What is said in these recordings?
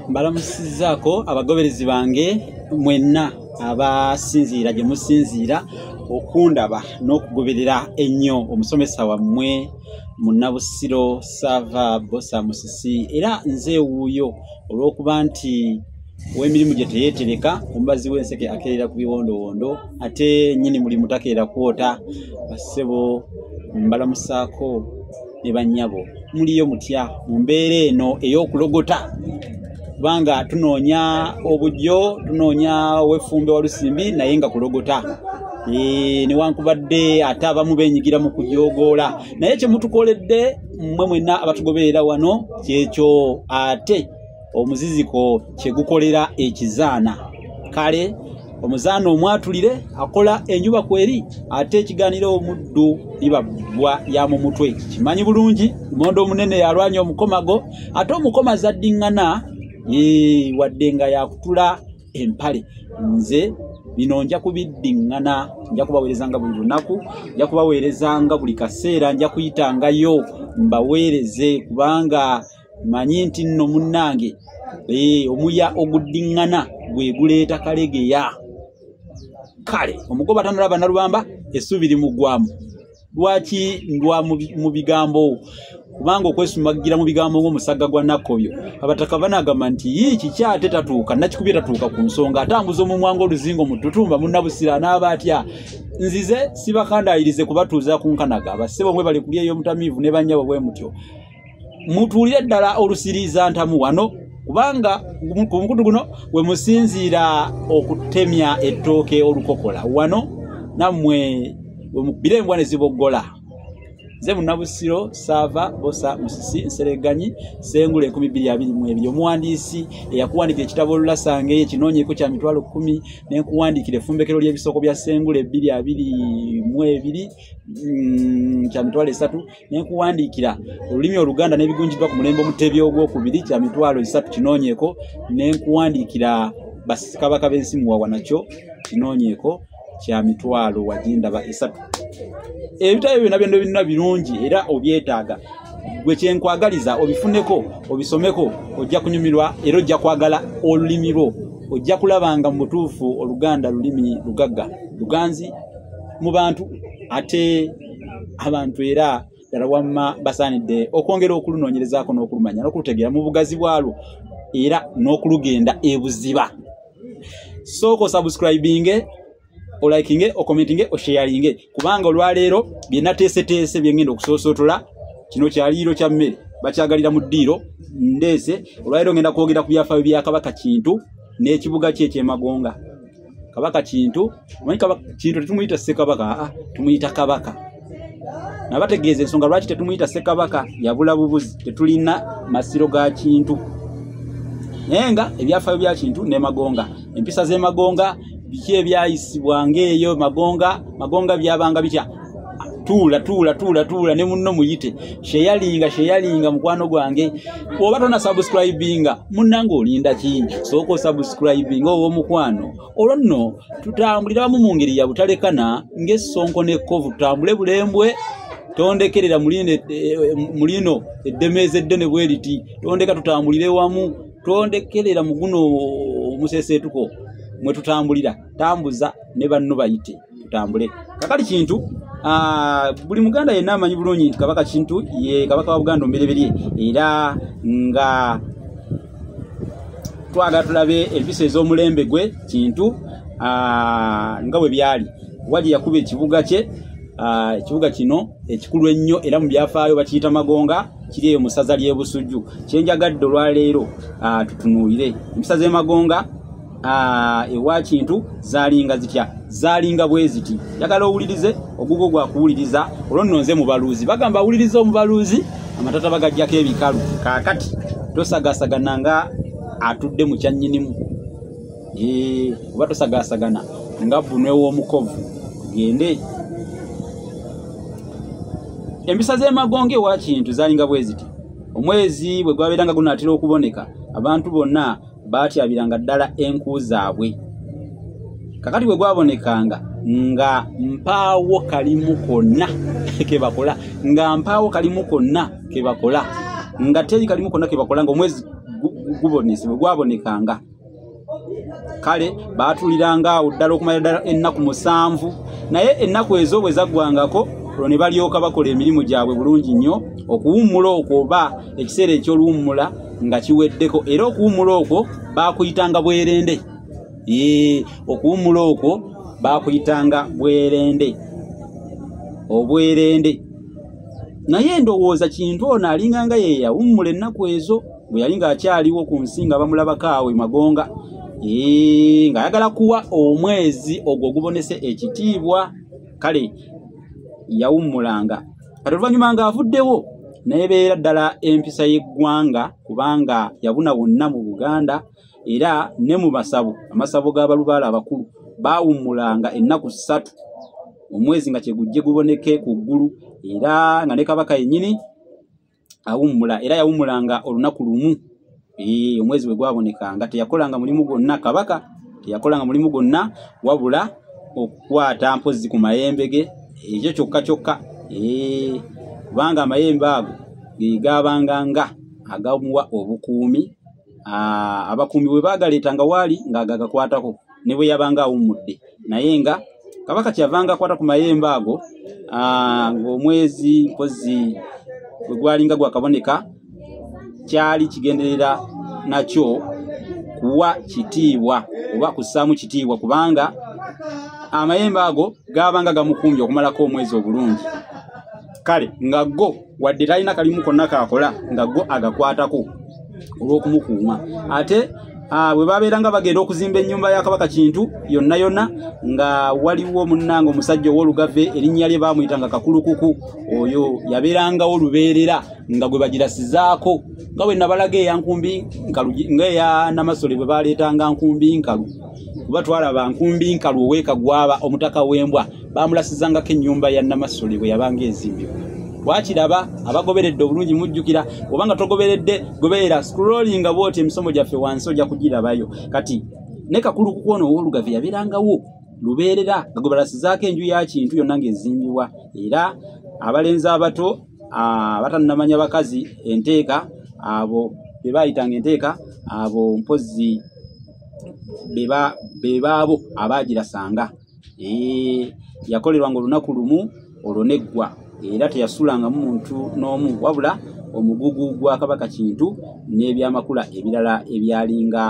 mbalamusizaako abagoberezi bange mwenna abasinziira gye musinziira okundaba n'okugoberera ennyo omusomesa wammwe munnabusiro sava bosa musisi era nze ewuuyo olw'okuba nti ow'emirimu gye teyeetereka omubazi w'enseke akeerera ku biwondowondo ate nnyini mulimu takeera kwota bassebo mbalamusaako ne bannyabo muliyo mutya mu mbeera eno ey'okulogota kubanga tunoonya obujjo tunoonya owefumbe walusimbi naye nga kulogota Eh, newankubadde ate abamu benyigira mu kujogoola naye kyemutukoledde mmwe mwenna abatugoberera wano kyekyo ate omuziziko kyegukolera ekizaana kale omuzaana omwatulire akola enjuba kweri ate ekiganiro omuddu ibabwa ya mu mutwe kimanyi bulungi lumonde omunene yalwanya omukomago ate omukoma zaddiŋŋana wadde nga yakutula empale nze bino nja kubiddiŋŋana nja kubaweerezanga buli lunaku nja kubaweerezanga buli kaseera nja kuyitangayo mbaweereze kubanga manyi nti nno munnange eh, omuya oguddiŋŋana gwe guleeta kalegeya kale omugoba tanalaba nalubamba essuubi limuggwamu lwaki ndwa mu bigambo kubanga okwesumagira mu bigambo ng'omusagga gwa nakkoyo abataka banagamba nti yii kiki ate tatuuka nakikubye tatuuka ku nsonga atambuza omumwa ng'oluzingo mu tutumba munnabusira anaaba atya nzize sibakandayirize kubatuuza ku nkanaga bassebo mwe bali kulya ey'omutamiivu ne bannyabo bwe mutyo mutuulire ddala olusiriiza ntamu wano kubanga ku mukutu guno we musinziira okutemya ettooke olukokola wano nammwe we mukubira embwa ne ziboggola nze munabusiro saava bosa musisi nsereganyi sengula enkumi bbiri abiri mu ebiri omuwandiisi eyakuwandiikira ekitabo olulasange ekinoonyeko kya mitwalo kkumi nenkuwandiikira efumbekero ly'ebisoko bya sengula ebbiri abiri mu ebiri mm, kya mitwalo esatu nenkuwandiikira olulimi oluganda n'ebigunjiddwa ku mulembe omutebi ogwokubiri kya mitwalo esatu kinoonyeeko nenkuwandiikira basikabaka b'ensi muwawa nakyo kinoonyeeko kya mitwalo wagindaba esatu ebitabo byona byona byonna birungi era obyetaaga gwe kyenkwagaliza obifuneko obisomeko ojja kunyumirwa era ojja kwagala olulimi lwo ojja kulaba nga mu butuufu oluganda lulimi lugagga luganzi mu bantu ate abantu era ddala wamma basaanidde okwongera okulunoonyerezaako n'okulumanya n'okulutegeera mu bugazi bwalwo era n'okulugenda ebuziba sooka osubscribinge olikinge okomentinge osheyaringe kubanga olwaleero byenateeseteese byengenda okusoosotola kino kyaliiro kya mmere bakyagalira mu ddiiro ndeese olwaleero ngenda kwogera ku byafaayo bya kabaka kintu n'ekibuga kye ekyemagonga kabaka kintu omanyi kabaka kintu tetumuyita ssekabaka aa ah, tumuyita kabaka nabategeeza ensonga lwaki tetumuyita ssekabaka yabula bubuzi tetulina masiro ga kintu naye nga ebyafayo bya kintu ne magonga empisa z'emagonga biki ebyayisibwanga eyo magonga magonga byabanga bitya tuula tuula tuula tuula ne munno muyite sheyalinga sheyalinga mukwano gwange oba tona subscribinga munnange olinda ki sooka osubscribinga owo omukwano olwo nno tutambulira wamu mu ngeri ya butalekana ng'essonko n'ekkovu tutambule bulembwe tondekerera eh, eh, mulino eddemeeza eddene bwe liti tondeka tutambulire wamu tondekerera mu guno omuseseetuko mwe tutambulira tambuza ne banno bayite tutambule kakali kintu Ah, buli muganda yenna amanyi bulungi nti kabaka kintu ye kabaka wa buganda omubereberye era nga twagala tulabe empisa ez'omulembe gwe kintu ah, nga bwe byali waje yakuba ekibuga kye ah, ekibuga kino ekikulu ennyo era mu byafaayo bakiyita magonga kiri eyo mu ssaza ly'ebusujju kyenjagadde olwaleero tutunuulire empisa z'emagonga Ah, ewa kintu zalinga zitya zalinga bweziti yagala owulirize ogugo gwa kuwuliriza olwo nno nze mubaluuzi bagamba awuliriza omubaluuzi amatata bagajjako ebikalu kaakati tosagasagana nga atudde mu kyannyinimu oba tosagasagana nga bunwe w'omukovu tugende empisa z'emagonga ewa kintu zalinga bweziti omwezi bwe gwabeera nga gunaatera okuboneka abantu bonna baatyabiranga ddala enku zaabwe kakati bwe gwabonekanga nga mpaawo kalimu konna ke bakola nga mpaawo kalimu konna ke bakola nga teri kalimu konna ke bakola ngaomwezi gubonese bwe gwabonekanga kale baatuliranga awo ddala okumala ddala ennaku musanvu naye ennaku ezo bwe zaggwangako olwo ne balyoka bakola emirimu gyabwe bulungi nnyo okuwummula okwo oba ekiseera eky'oluwummula nga kiweddeko era okuwummula okwo baakuyitanga bwerende okuwummula okwo baakuyitanga bwerende obwerende naye endowooza kintu ono alinga nga yeyawummula ennaku ezo bwe yali ng'akyaliwo ku nsi nga bamulabako awe magonga ng'ayagala kuwa omwezi ogwo ogubonese ekitiibwa kale yawummulanga kati oluvannyuma ng'avuddewo nebeera ddala empisa y'eggwanga kubanga yabuna wonna mu buganda era ne mu masabo amasabo g'abalubaala abakulu baawummulanga ennaku ssatu omwezi nga kyegujje guboneke ku ggulu era nga ne kabaka yennyini awummula era yawummulanga olunaku lumu omwezi bwe gwabonekanga teyakolanga mulimu gwonna kabaka teyakolanga mulimu gwonna wabula okukwata mpozzi ku mayembe ge ekyo kyokka kyokka kubanga amayembe ago ge gaabanga nga agamuwa obukuumi ah, abakumbi bwe bagaleeta nga waali ng'ago agakwatako ne bwe yabanga awummudde naye nga kabaka kyavanga akwata ku mayembe ago ah, ng'omwezi mpozi bwe gwalinga gwakaboneka kyali kigenderera nakyo kuwa kitiibwa oba kussaamu kitiibwa kubanga amayembe ago gaabanga gamukumbye okumalako omwezi obulungi kale nga go wadde talina kalimu konna kaakola nga go agakwatako olw'okumukuuma ate Ah, bwe babeera nga bagenda okuzimba ennyumba ya kabaka kintu yonna yonna nga waliwo munnanga omusajja ow'olugave erinnya lye baamuyita nga kakulukuku oyo yabeerangawo lubeerera nga gwe bagirasizaako nga bwe nabalaga eyankumbi nkalu nga eya namasole bwe baleetanga nkumbi nkalu kuba twalaba nkumbi nkalu oweka gwaba omutaka w'embwa bamulasizangako ennyumba ya namasole bwe yabanga ezimbibwa wakiraba abagoberedde obulungi mujjukira obanga togoberedde goberera scrollinga bwoti emisomo gyaffe wansi ojja kugirabayo kati ne kakulu kukwona ow'olugave yabeerangawo lubeerera nga gwe balasizaako enju ya kintu yonna ng'ezimbibwa era abalenzi abato abatannamanya bakazi enteeka abo be baayitanga enteeka abo mpozzi bebaabo abaagirasanga yakolerwanga olunaku lumu olwo neggwa era teyasulangamu muntu n'omu wabula omugugu gwa kabaka kintu n'ebyamakula ebirala ebyalinga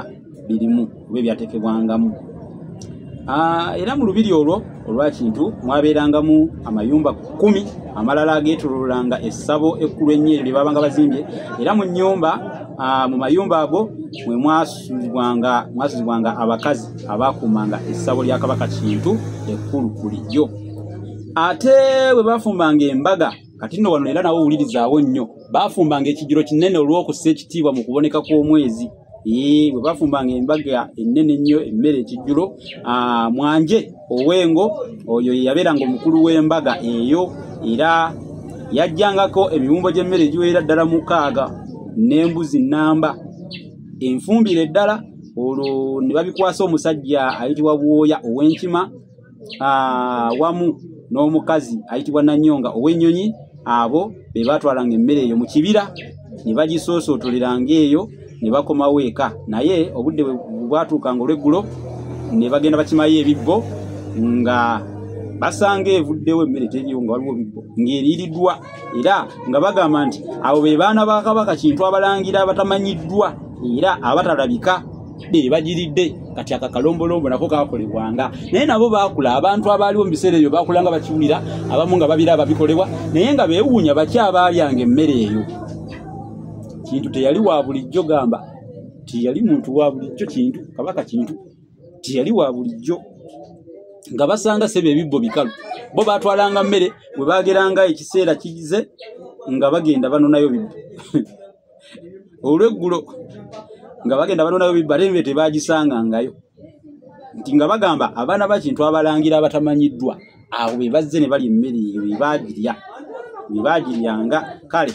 birimu oba ebyatekebwangamu era mu lubiri olwo olwakintu mwabeerangamu amayumba kumi amalala ageetololanga essabo ekkulu ennyo eryo lye baabanga bazimbye era mu nnyumba mu mayumba ago mwe mwasuzibwanga mwasuzibwanga abakazi abaakuumanga essabo lya kabaka kintu ekkulu bulijjo ate bwe baafumbanga embaga kati nno wano era nawo owulirizaawo nnyo baafumbanga ekijiro kinene olw'okussa ekitiibwa mu kuboneka kw'omwezi Ee, bwe bafumbanga embaga ennene ennyo emmere ekijjulo ah, mwanje ow'engo oyo ye yabeeranga omukulu w'embaga eyo era yajjangako emiwumbo gy'emmere egiweera ddala mukaaga n'embuzi nnamba enfumbire ddala olwo ne babikwasa omusajja ayitibwa bwoya ow'enkima ah, wamu n'omukazi ayitibwa nanyonga ow'ennyonyi abo be baatwalanga emmere eyo mu kibira ne bagisoosootolelanga eyo ne bakomawo eka naye obudde bwatuukanga olweggulo ne bagenda bakimayo ebibbo nga basanga evuddewo emmere teriwo nga waliwo bibbo ng'eriiriddwa era nga bagamba nti abo be baana ba kabaka kintu abalangira abatamanyiddwa era abatalabika bagiridde kati akakalombolombo nako kakolebwanga naye nabo bakula abantu abaaliwo mu biseera ebyo bakula nga bakiwulira abamu nga babira ababikolebwa naye nga bewuunya baki abaalyanga emmere eyo kintu teyali wa bulijjo gamba tiyali muntu wa bulijjo kintu kabaka kintu tiyali wa bulijjo nga basanga sebe ebibbo bikalu bo batwalanga mmere bwe bageranga ekiseera kize nga bagenda banonayo bibbo olweggulo nga bagenda banonayo bibba ate nve tebagisangangayo nti nga bagamba abaana bakintu abalangira abatamanyiddwa abo be bazze ne balya emmere eyo bebagirya bebagiryanga kale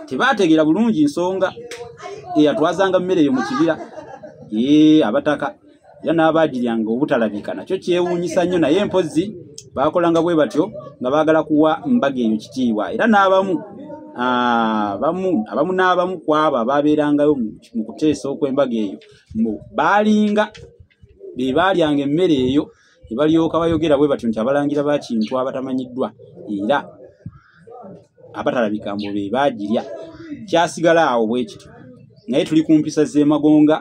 tebategeera bulungi nsonga eyatwazanga mmere eyo mu kibira ee abataka era n'abaagiryanga obutalabika nakyo kyewuunyisa nnyo naye mpozzi baakolanga bwe batyo nga baagala kuwa mbaga eyo kitiibwa era n'abamu ah, bamu abamu n'abamu ku abo abaabeerangayo mu kuteesa okw'embaga eyo mbu baalinga be baalyanga emmere eyo ne balyoka bayogera bwe batyo nti abalangira ba kintu abatamanyiddwa era abatalabika mbu be baagirya kyasigala awo bwe kityo naye tuli ku mpisa z'emagonga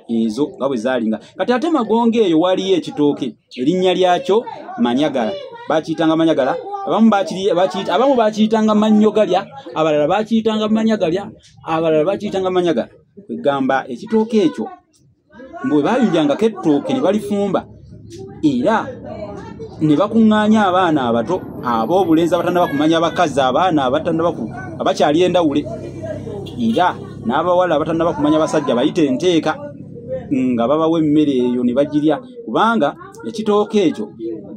ezo nga bwe zaali nga kati ate magonga eyo waaliyo ekitooke erinnya lyakyo manyagala bakiyitanga manyagala abamu bakiyitanga mannyo galya abalala bakiyitanga manya galya abalala bakiyitanga manya gala kwegamba ekitooka ekyo mbu bwe baayulyangako ettooke ne balifumba era ne bakuŋŋaanya abaana abato ab'obulenzi abatandaba kumanya abakazi abaana abatandaba abakyali endawule era n'abawala abatandaba kumanya abasajja bayite enteeka nga babawa emmere eyo ne bagirya kubanga ekitooka ekyo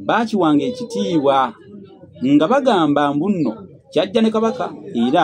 baakiwanga ekitiibwa nga bagamba mbunno kyajja ne kabaka era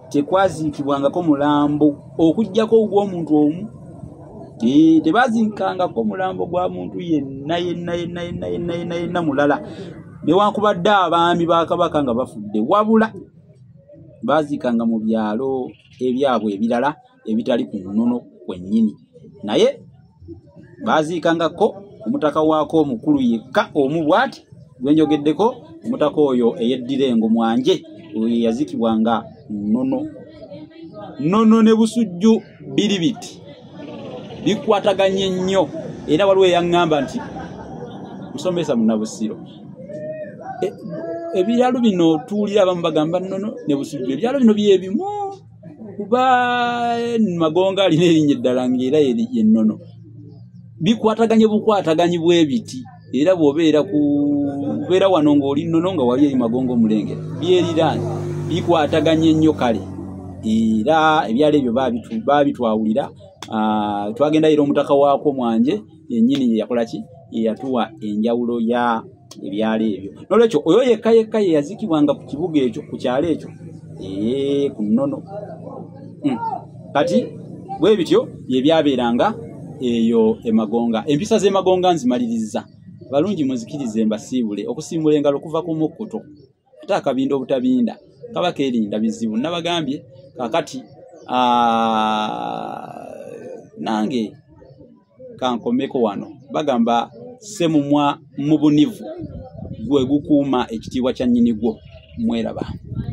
tekwaziikibwangako mulambo okugyako ogw'omuntu omu tebaziikangako mulambo gwa muntu yenna yenna yenna yenna yenna yenna yenna mulala newankubadde abaami ba kabaka nga bafudde wabula baziikanga mu byalo ebyabwe ebirala ebitali ku nnono kwennyini naye baaziikangako omutaka waako omukulu yekka omu bwati gwe njogeddeko omutaka oyo eyeddira engo mwanje oyo yeyaziikibwa nga nnono nnono ne busujju biri biti bikwataganye nnyo era waliwo eyaŋŋamba nti musomesa munabusiro e, ebiralu bino tuwulira abamu bagamba nnono ne busujju ebiralu bino byebimu kuba magonga alina erinnya eddala ngaera yennono bikwataganye bukwataganyi bwebiti era bwobeera kubeera wano ngaoli nnono nga wali eri magonga omulengera byeriraani bikwataganye nnyo kale era ebyalo ebyo babitwawulira ah, twagendayo era omutaka waakwo mwanje yenyini yeyakolaki yeyatuwa enjawulo ya ebyalo ebyo nolwekyo oyo yekka yekka yeyazikibwanga ku kibuga ekyo ku kyalo ekyo ee ku nnono hmm. kati bwe bityo byebyabeeranga eyo emagonga empisa z'emagonga nzimalirizza balungi muzikirize mbasiibule okusimbula engalo okuva ku mukkuto ate akabinda obutabinda kaba keerinda bizibu nabagambye kakati nange kankomeko wano bagamba semumwa mu bunivu gwe gukuuma ekitiibwa kya nnyini gwo mweraba